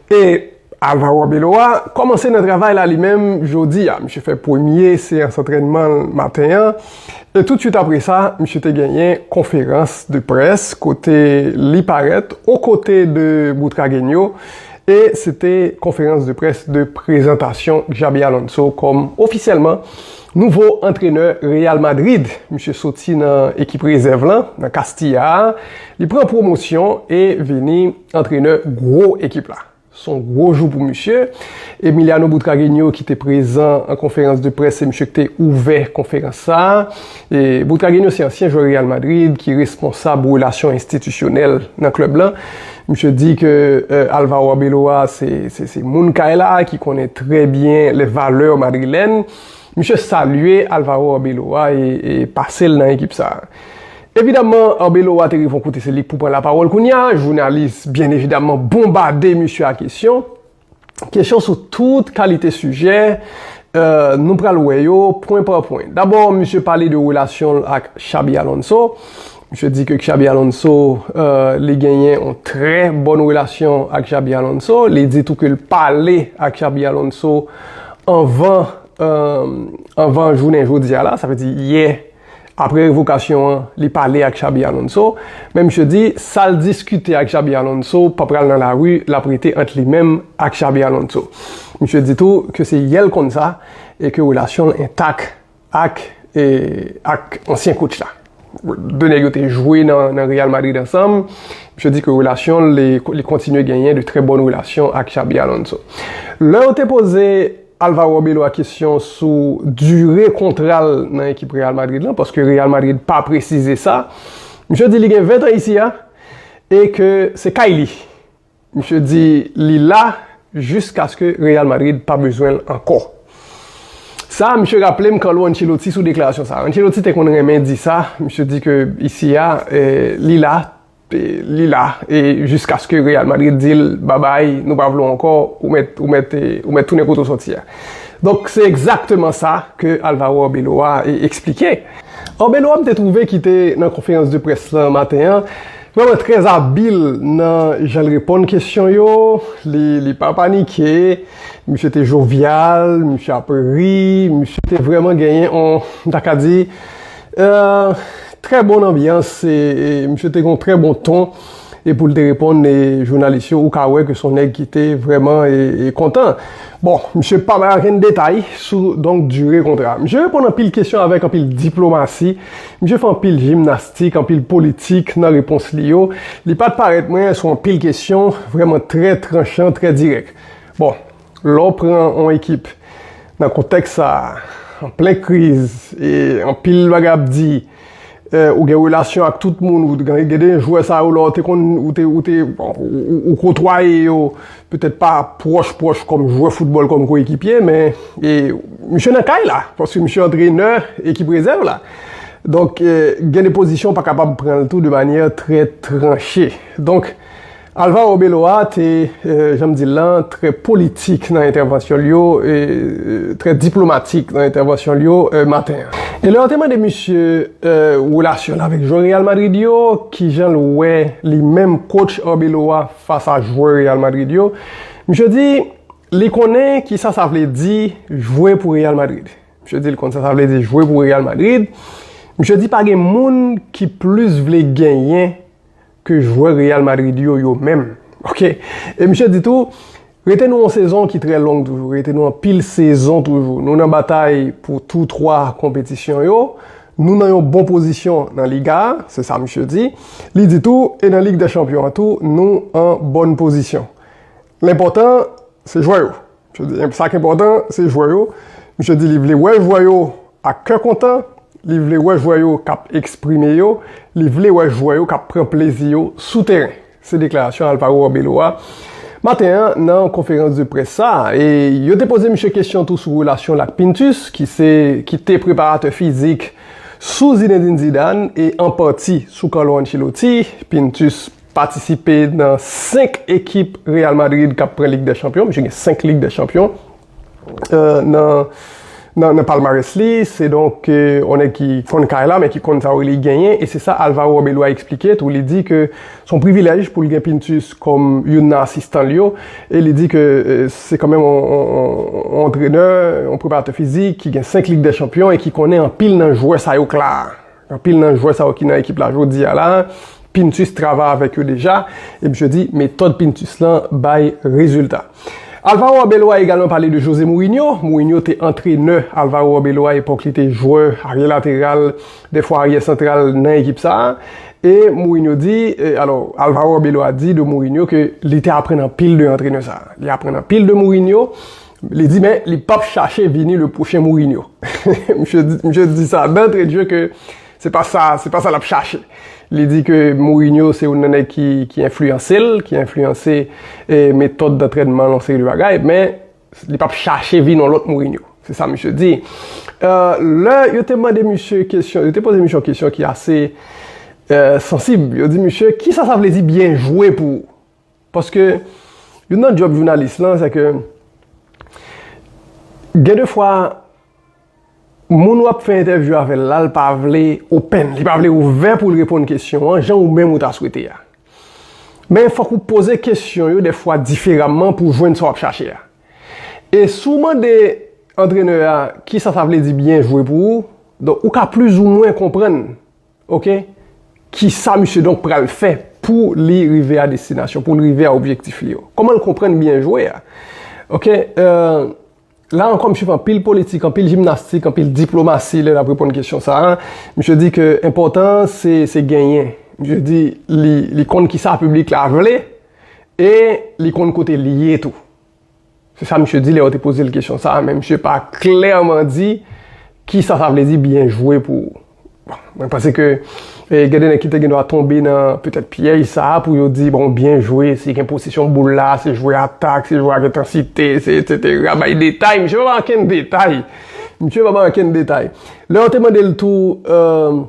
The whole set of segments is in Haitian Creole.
E Alvaro Arbeloa kòmanse nan travay la li menm jodi a. Misye fè premye seyans antrènman l maten an e toutswit apre sa misye te genyen konferans de près kote li parèt o kote de Butragueño e se te konferans de près de prezantasyon Xabi Alonso kòm ofisyèlman nouvo antrenè Real Madrid. Misye soti nan ekip rezèv lan nan Castilla a, li pran pwomosyon e vini. Antrenè gwo ekip la. S on gwo jou pou misye. Emiliano Butragueño ki te prezan an konferans de près se misye ki te ouvè konferans sa. Butragueño se ansyen jwè Real Madrid ki responsab relasyon enstitisyonèl nan klèb lan. Misye di ke Alvaro Arbeloa se moun kay la ki konnen trè byen les valeurs madrilènes. Misye salye Alvaro Arbeloa e pase l nan ekip sa. Evidamman Arbeloa te rive yon kote se li k pou pran lapawòl kounya, jounalis byen evidamman bonbade misye a kesyon. Kesyon sou tout kalite sijè, nou pral wè yo pwen pa pwen. Dabò misye pale de relasyon l ak Xabi Alonso, misye di ke Xabi Alonso, li genyen yon trè bòn relasyon ak Xabi Alonso, li di tou ke l pale ak Xabi Alonso anvan anvan jounen jodia la, sa vle di yè Apre revokasyon an, li pale ak Xabi Alonso, men misye di sa l diskite ak Xabi Alonso pa pral nan lari, l ap rete ant li menm ak Xabi Alonso. Misye di tou ke se yè l konn sa e ke relasyon l entak ak ak ansyen kotch la. 2 nèg yo te jwe nan Real Madrid ansanm, misye di ke relasyon l, li kontinye genyen de trè bòn relasyon ak Xabi Alonso. Lè yo te poze. Alvaro Bello a kesyon sou dire kontra l nan ekip Real Madrid lan, paske Real Madrid pa presize sa. Misye di li gen 20 tan isi a, e ke se kay li. Misye di li la jiskaske Real Madrid pa bezwen l ankò. Sa a misye raple m Carlo Ancelotti sou deklarasyon sa a. Ancelotti te konn renmen di sa, misye di ke isi a, li la. Li la e jiskaske Real Madrid di l babay, nou pa vle w ankò, ou mèt ou mèt ou mèt tounen kote w sòti a. Donk se egzakteman sa ke Alvaro Arbeloa eksplike. Arbeloa m te twouve ki te nan konferans de près lan maten an vrèman trè abil nan jan l reponn kesyon yo, li li pa panike, misye te jovyal, misye ap ri, misye te vrèman genyen on m ta ka di Trè bon anbyans e misye te gen yon trè bon ton e pou l te reponn jounalis yo ou ka wè ke se yon nèg ki te vrèman kontan. Bon, misye pa bay okenn detay sou donk dire kontra a. Misye reponn anpil kesyon avèk anpil diplomasi, misye fè anpil jimnastik, anpil politik nan repons li yo. Li pa t parèt mwen sou anpil kesyon, vrèman trè tranchan, trè dirèk. Bon. Lè w pran yon ekip nan kontèks sa a, an plen kriz, e anpil bagay ap di, ou gen relasyon ak tout moun, gen de jwè sa yo lè w te konn, ou te, ou te, ou kotwaye yo, petèt pa pwòch pwòch kòm jwè foutbòl, kòm koyekipye, men, e, misye nan kay la, paske misye antrenè ekip rezèv la. Donk, gen de pozisyon ou pa kapab pran l tou de manyè trè tranche. Donk. Alvaro Belloa te, jan m di l lan, trè politik nan entèvansyon l yo, trè diplomatik nan entèvansyon l yo maten an. E lè yo te mande misye relasyon l avèk jwè Real Madrid yo, ki jan l wè li menm kotch Arbeloa fas a jwè Real Madrid yo, misye di li konnen ki sa sa vle di jwe pou Real Madrid. Misye di li konn sa sa vle di jwe pou Real Madrid. Misye di pa gen moun ki plis vle genyen ke jwè Real Madrid yo yo menm. Ok. E misye di tou, Rete nou yon sezon ki trè long toujou, rete nou anpil sezon toujou. Nou nan batay pou tou twa konpetisyon yo. Nou nan yon bon pozisyon nan Liga a, se sa misye di. Li di tou, e nan Lig dè Chanpyon an tou, nou an bòn pozisyon. Lenpòtan, se jwè yo. Sa ki enpòtan se jwè yo, misye di li vle wè jwè yo ak kè kontan, li vle wè jwè yo kap eksprime yo, li vle wè jwè yo kap pran plezi yo sou teren. Se deklarasyon Alvaro Arbeloa a maten an nan konferans de près sa a. E yo te poze misye kesyon tou sou relasyon l ak Pintus ki se ki te preparatè fizik sou Zinedine Zidane e an pati sou Carlo Ancelotti, Pintus. Patisipe nan 5 ekip Real Madrid k ap pran Lig dè Chanpyon. Misye gen 5 Lig dè Chanpyon nan palmarès li. Se donk yon nèg ki konn kay la men ki konn sa yo rele genyen. E se sa Alvaro Arbeloa eksplike tou. Li di ke se yon privilèj pou l gen Pintus kòm youn nan asistan l yo. E li di ke se kanmenm yon antrenè, yon preparatè fizik ki gen 5 Lig dè Chanpyon e ki konnen anpil nan jwè sa yo k la a. Anpil nan jwè sa yo ki nan ekip la jodi a la, Pintus travay avèk yo deja, e misye di metòd Pintus lan bay rezilta. Alvaro Arbeloa egalman pale de Jose Mourinho, Mourinho te antrenè Alvaro Arbeloa epòk li te jwè aryè lateral, dèfwa aryè santral nan ekip sa a, e Mourinho di, alò Alvaro Arbeloa di de Mourinho ke li te aprann anpil de antrenè sa a. Li aprann anpil de Mourinho, Li di men li pap chache vini le pwochen Mourinho. Misye di sa dantre dje ke se pa sa, se pa sa lap chache. Li di ke Mourinho se youn nan nèg ki enfliyanse l, ki enfliyanse metòd dantrènman l, yon seri de bagay, men li pap chache vin yon lòt Mourinho. Se sa misye di. Lè yo te mande misye kesyon, yo te poze misye yon kesyon ki ase sansib. Yo di misye, kisa sa vle di byen jwe pou ou? Paske, youn nan djòb jounalis lan, se ke, gen de fwa, moun wap fè entèvyou avè l la, l pa vle open, li pa vle ouvè pou l reponn kesyon an, jan ou menm ou ta swete a. Men, fòk ou poze kesyon yo de fwa diferamman pou jwenn sa wap chache a. E si w mande antrenè a, kisa sa vle di byen jwe pou ou, donk ou ka plizoumwen konprann. Ok Kisa misye donk pral fè pou li rive a destinasyon, pou li rive a objektif li yo? Kòman l konprann byen jwe a? Ok Eeuh La ankò misye fè anpil politik, anpil jimnastik, anpil diplomasi lè l ap reponn kesyon sa a. Misye di ke enpòtan se se genyen. Misye di li konn kisa piblik la vle e li konn kote li ye tou. Se sa misye di lè yo te poze l kesyon sa a, men misye pa klèman di ki sa sa vle di byen jwe pou ou. Bon, mwen panse ke eh, gen de nèg ki te gen dwa tonbe nan petèt pyèj sa a pou yo di bon byen jwe, se gen posesyon boul la, se jwe atak, se jwe ak entansite, se etsetera, bay detay, misye pa bay ankenn detay. Misye pa bay ankenn detay. Lè yo te mande l tou, eh,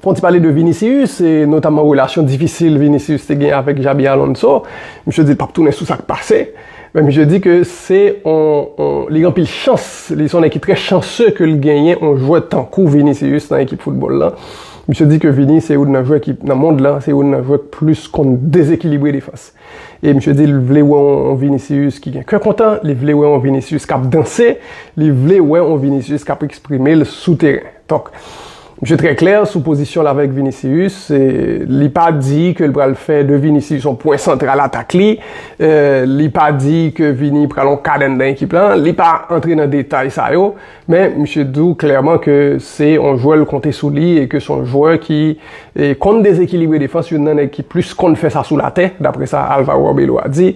Fon ti pale de Vinicius, e notamman relasyon difisil Vinicius te gen avèk Xabi Alonso. Misye di l pap tounen sou sa k pase. Men misye di ke se yon, li gen anpil chans, li se yon nèg ki trè chanse ke l genyen yon jwè tankou Vinicius nan ekip foutbòl lan. Misye di ke Vini se youn nan jwè ki, nan mond lan, se youn nan jwè k plis konn dezekilibre defans. E misye di li vle wè yon Vinicius ki gen kè kontan, li vle wè yon Vinicius kap danse, li vle wè yon Vinicius kap eksprime l sou teren. Donk, misye trè klè sou pozisyon l avèk Vinicius, li pa di ke l pral fè de Vinicius yon pwen santral atak li, li pa di ke Vini pral yon kad anndan ekip lan, li pa antre nan detay sa yo. Men misye di w klèman ke se yon jwè l konte sou li e ke se yon jwè ki konn dezekilibre defans, youn nan nèg ki plis konn fè sa sou latè, dapre sa Alvaro Arbeloa di,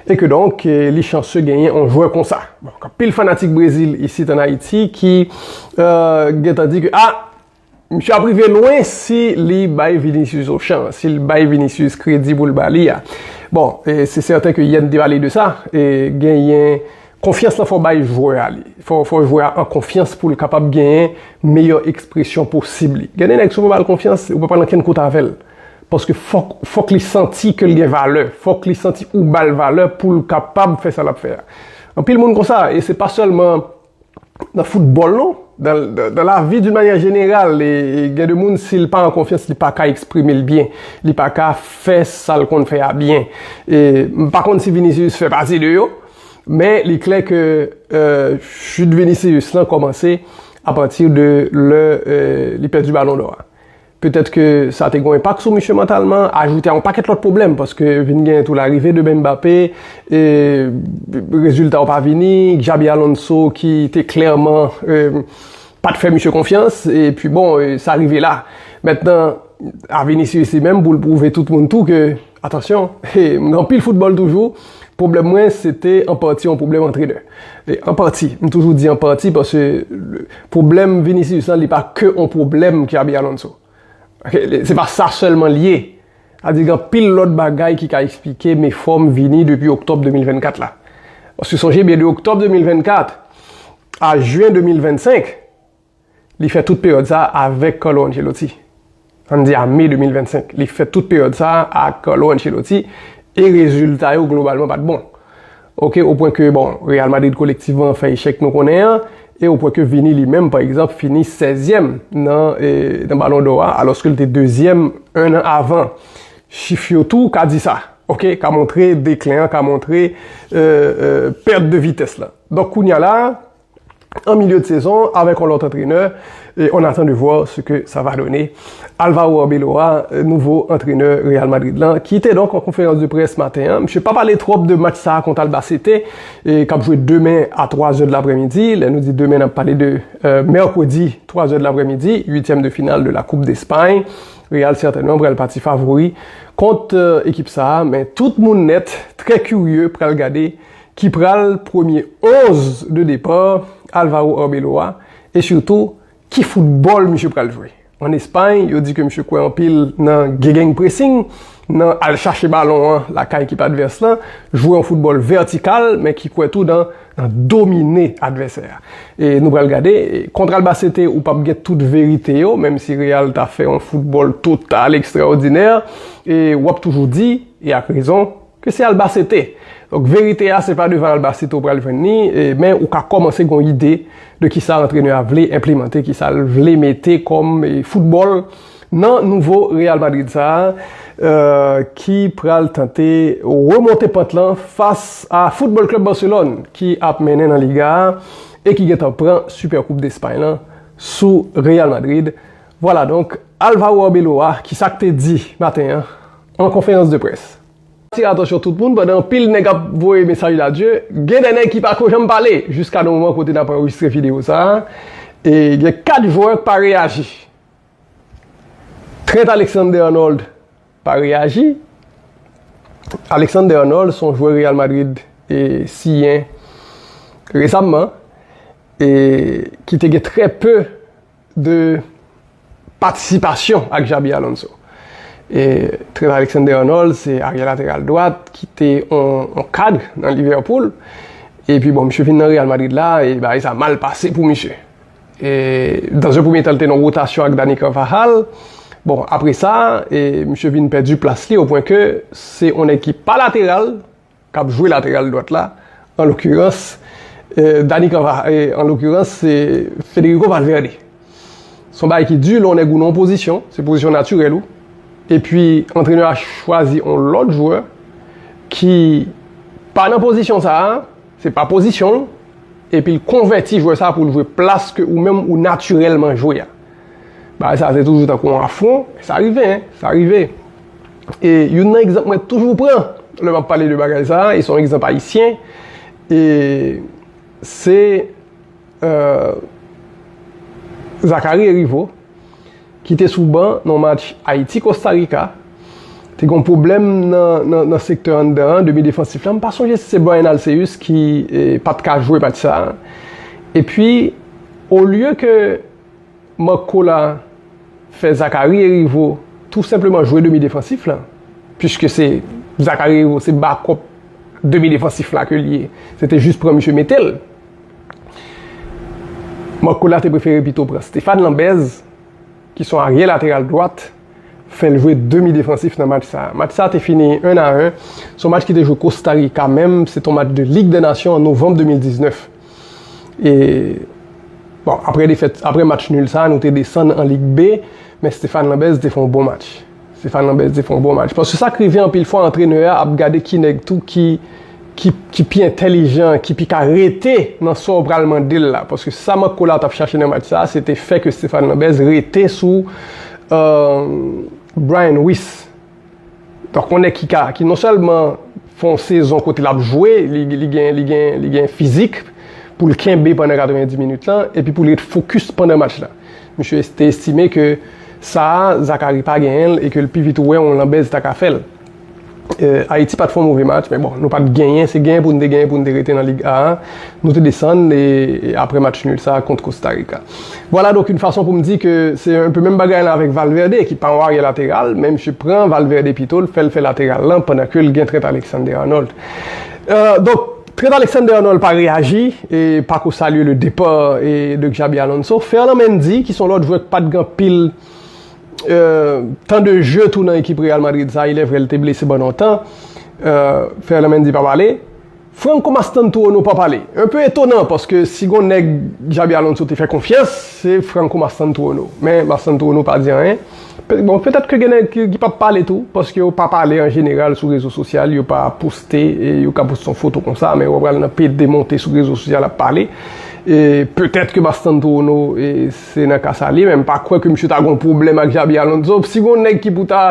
e ke donk li chanse genyen yon jwè konsa. Bon, gen anpil fanatik Brezil isit an Ayiti ki gentan di ke a! Misye ap rive lwen si li bay Vinicius on chans, si li bay Vinicius kredi pou l ba li a. Bon, se sèten ke yè n te pale de sa, genyen konfyans lan fò bay jwè a li. Fò jwè a an konfyans pou l kapab genyen meyè ekspresyon posib li. Gen de nèg si w pa ba l konfyans, ou pa pral ankenn kote avè l. Paske fòk li santi ke l gen valè, fòk li santi ou ba l valè pou l kapab fè sa l ap fè a. Anpil moun konsa, e se pa sèlman. nan foutbòl non, dan lavi doun manyè jeneral, gen de moun si l pa an konfyans li pa ka eksprime l byen, li pa ka fè sa l konn fè a byen, m pa konn si Vinicius fè pati de yo, men li klè ke chut Vinicius lan kòmanse apati de lè li pèdi balon dò a. Petèt ke sa te gen yon enpak sou misye mantalman, ajoute a yon pakèt lòt pwoblèm, paske vin gen tou larive de Mbappé, e rezilta yo pa vini, Xabi Alonso ki te klèman pat fè misye konfyans, e pi bon, sa rive la. Mentnan, a Vinicius li menm pou l pwouve tout moun tou ke. Atansyon, m gen anpil foutbòl toujou, pwoblèm mwen se te an pati yon pwoblèm antrenè. An pati, m toujou di an pati paske pwoblèm Vinicius lan li pa ke yon pwoblèm Xabi Alonso. Se pa sa sèlman li ye. Sa di gen anpil lòt bagay ki ka eksplike me fòm Vini depi oktòb 2024 la. Paske sonje byen de oktòb 2024 a jen 2025, Li fè tout peryòd sa a avèk Carlo Ancelotti. An n di a Me 2025. Li fè tout peryòd sa a ak Carlo Ancelotti e rezilta yo globalman pa t bon. Ok, o pwen ke bon, Real Madrid kolektivman fè echèk nou konnen an e o pwen ke Vini li menm pa egzanp fini sèzyèm nan Ballon d'Or a alòske l te dezyèm 1 an avan. Chif yo tou ka di sa. Ok, ka montre deklen an, ka montre pèt de vitès la. Donk kounya la a. an milieu de sezon avèk yon lòt antrenè e on attend de voir ce que ça va donner. Alvaro Arbeloa, nouvo antrenè Real Madrid lan, ki te donk an konferans de près maten an, misye pa pale twòp de match sa a kont Albacete k ap jwe demen a 3 zè de laprèmidi, lè nou di demen n ap pale de mèkredi 3 zè de laprèmidi, uityèm de final de la koup despay. Real sètènman pral pati favori kont ekip sa a men tout moun nèt trè kirye pral gade ki pral premye 11 de depar Alvaro Arbeloa e sitou ki foutbòl misye pral jwe. An Espay, yo di ke misye kwè anpil nan gegenpressing, nan al chache balon an lakay ekip advès lan, jwe yon foutbòl vètikal men ki kwè tou nan domine advèsè a. E nou pral gade, kont Albacete ou pap gen tout verite yo, menm si Real ta fè yon foutbòl total ekstraòdinè, e wap toujou di, e ak rezon, Ke se Albacete. Donk verite a se pa devan Albacete ou pral jwenn li, men ou ka kòmanse gon ide de kisa antrenè a vle enplemante, kisa l vle mete kòm foutbòl nan nouvo Real Madrid sa a ki pral tante remonte pant lan fas a Football Club Barcelone ki ap mennen nan Liga a e ki gentan pran Super Koup Despay lan sou Real Madrid. Vwala donk Alvaro Arbeloa kisa k te di maten an. an konferans de près. Atire atansyon tout moun, pandan anpil nèg ap voye mesaj d'adye, gen de nèg ki pa ko janm pale jiska nan moman kote nap anrejistre videyo sa a, e gen 4 jwè k pa reyaji. Trent Alexander-Arnold pa reyaji, Alexander-Arnold son jwè Real Madrid siyen resamman e ki te gen trè peu de patisipasyon ak Xabi Alonso. E Trent Alexander-Arnold se arye lateral dwat ki te yon kad nan Liverpool. E pi bon, misye vin nan Real Madrid la, e bagay sa mal pase pou misye. E dan yon premye tan li te nan wotasyon ak Dani Carvajal. Bon, apre sa, e misye vin pèdi plas li o pwen ke se yon nèg ki pa lateral. K ap jwe lateral dwat la, an lokirans, Dani Canva, an lokirans, se Federico Valverde. Se yon bagay ki di, lè yon nèg ou nan yon pozisyon, se pozisyon natirèl ou, epi antrenè a chwazi yon lòt jwè ki pa nan pozisyon sa a, se pa pozisyon l, epi l konvèti jwè sa a pou l jwe plas ke ou menm ou natirèlman jwe a. Bagay sa se toujou tankou yon afwon, sa rive, sa rive. E yon nan egzanp mwen toujou pran, lè m ap pale de bagay sa, e son egzanp ayisyen, e se euh, Zachary Heriveaux, ki te sou ban nan match Ayiti-Costa Rica, te gon pwoblèm nan sektè anndan an, demi defansif la, m pa sonje si se Bryan Alceus ki pat ka jwe match sa, e pi olye ke Marco la fè Zachary Heriveau tou senpleman jwe demi defansif la puiske se Zachary Heriveau se bakòp demi defansif la ke li ye se te jis pran misye mete l Marco la te prefere pito pran Stephane Lambez ki son arye lateral dwat fè l jwe demi defansif nan match sa match sa te fini 1 a 1 son match ki te jwe Costa Rica menm se te yon match de Ligue des Nations an Novembre 2019. Bon, apre defèt, apre match nul sa, nou te desann an Lig B, men Stéphane Lambert te fè yon bon match. Stéphane Lambert te fè yon bon match. Paske sa k rive anpil fwa antrenè a ap gade ki nèg tou ki ki pi entèlijan, ki pi ka rete nan sa w pral mande l la. Paske sa Marc Collard t ap chache nan match sa, se te fè ke Stéphane Lambert rete sou Bryan Ruiz. Donk yon nèg ki ka, ki non sèlman fè yon sezon kote l ap jwe, li gen, li gen, li gen fizik pou l kenbe pandan 90 minit lan epi pou l ret fokis pandan match la. Misye te estime ke sa a, Zacharie pa genyen l e ke l pi vit wè yon Lambert ta ka fè l. Ayiti pa t fè yon move match men bon, nou pa t genyen, se genyen pou n te genyen pou n te rete nan Lig A a, nou te desann e apre match nul sa a kont Kostarika. Vwala donk yn fason pou m di ke se un peu menm bagay lan avèk Valverde ki pa yon aryè lateral men misye pran Valverde pito l fè l fè lateral lan pandan ke l gen Trent Alexander-Arnold. Donk Trent Alexander-Arnold pa reyaji e pa ko salye le depa de Xabi Alonso. Ferland Mendy ki se yon lòt jwè k pat gen anpil tan de jeu tou nan ekip Real Madrid sa ilèvrè l te blese pandan yon tan. Ferland Mendy pap ale. Franco Mastantuono pa pale. Un peu étonnant paske si gon nèg Xabi Alonso te fè konfyans se Franco Mastantuono. Men Mastantuono pa di anyen. Bon petèt ke gen nèg ki pap pale tou paske yo pa pale an jeneral sou rezo sosyal yo pa poste yo ka poste yon foto konsa men wap pral nan pede monte sou rezo sosyal ap pale. Petèt ke Mastantuono se nan ka sa li men m pa kwè ke misye ta gon pwoblèm ak Xabi Alonso. Si gon nèg ki pou ta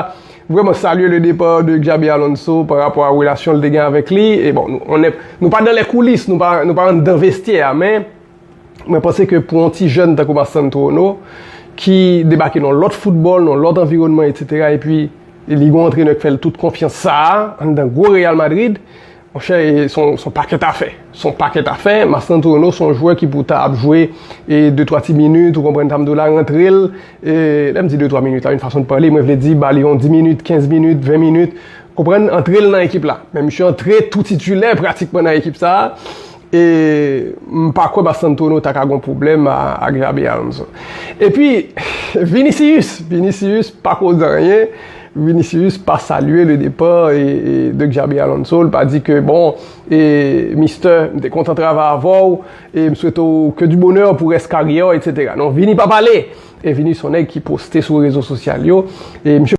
Vreman salye le depa de Xabi Alonso pa rapò a relasyon l te gen avèk li. E bon, nou konnen, nou pa dan lè koulis, nou pa, nou pa anndan vestyè a. Men, mwen panse ke pou yon ti jèn tankou Mastantuono, ki debake nan yon lòt foutbòl, nan yon lòt anviwònman, etsetera, epi li gen yon antrenè k fè l tout konfyans sa a, anndan gwo Real Madrid, Monchè e son pakèt afè. Son pakèt afè, Mastrantrueno son jwè ki pou ta ap jwe e de twa ti minit, ou konprann sa m di w la, rantre l e lè m di de twa minit la yon fason de pale, mwen vle di ba li yon di minit, kenz minit, ven minit, konprann, antre l nan ekip la. Men misye antre tou titilè pratikman nan ekip sa a E m pa kwè Mastantuono ta ka gon pwoblèm ak Xabi Alonso. E pi, Vinicius! Vinicius pa koz anyen. Vinicius pa salye le depa de Xabi Alonso. L pa di ke bon, e mistè, m te kontan travay avè w. E m swete w ke di bonè pou rès karyè w, etc. Non, Vini pa pale! E Vini s on nèg ki poste sou rezo sosyal yo. E misye.